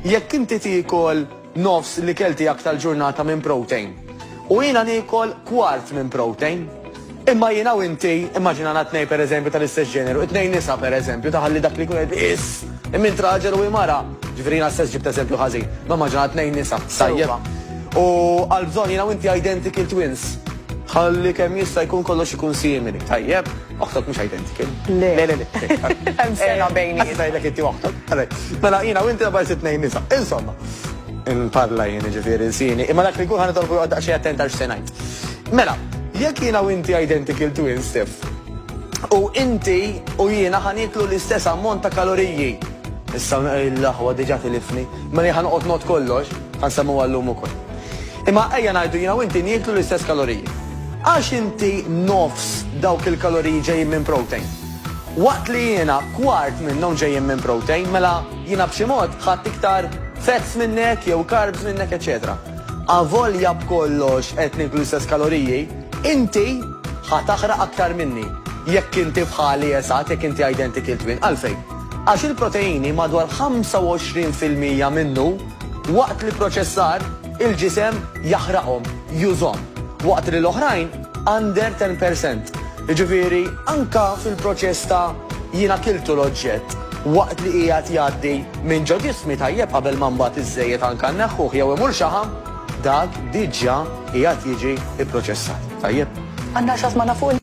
Jekk inti tikol nofs li kelti jak tal-ġurnata minn protein u jina nikol kwart minn protein, Imma jina u inti, immaġina natnej per eżempju tal-istess ġeneru, it-nej nisa per eżempju, taħalli dak li kunet is, immin traġel u imara, ġifirina stess ġibt eżempju ħazi, ma maġina t-nej nisa, sajjeba. U għal-bżon jina u inti identical twins, ħalli kem jista jkun kollox ikun simili, tajjeb. Oħtok mhux identiki. Le. Le, le, le. Hemm sena eh, bejniet. Issa jgħidlek inti oħtok. Mela jiena u inti għabaj sitt nejn nisa. Insomma. Nparla jien ġifieri sini. Imma dak li jkun ħana tolbu għadda xi attent għal x'senajt. Mela, jekk jiena u inti identical twin stif. U inti u jiena ħaniklu l-istess ammont ta' kaloriji. Issa l-laħwa diġa tilifni. Mela ħanqot not kollox, ħansemmu għallum ukoll. Imma ejja ngħidu jiena u inti nieklu l-istess kaloriji. Għax inti nofs dawk il-kaloriji ġejjin minn protein. Waqt li jiena kwart minnhom ġejjin minn protein, mela jiena b'xi mod ħadt iktar fats minnek jew carbs minnek eċċetera. Avolja b'kollox qed nieklu l-istess kaloriji, inti ħa taħraq aktar minni jekk inti bħali eżatt, jekk inti identical twin. Għalfejn? Għax il-proteini madwar 25 fil-mija minnu, Waqt l-ipproċessar, il-ġisem jaħraqhom, jużhom, waqt li l-oħrajn under ten per cent. Jiġifieri anke fil-proċess ta' jiena kiltu l-oġġett waqt li qiegħed jgħaddi minn ġo ġismi tajjeb qabel ma mbagħad iż-żejjed anke nneħħuh jew imur xaħam, dak diġà qiegħed jiġi pproċessat. Tajjeb? Għandna xi ħadd magħna fuq il.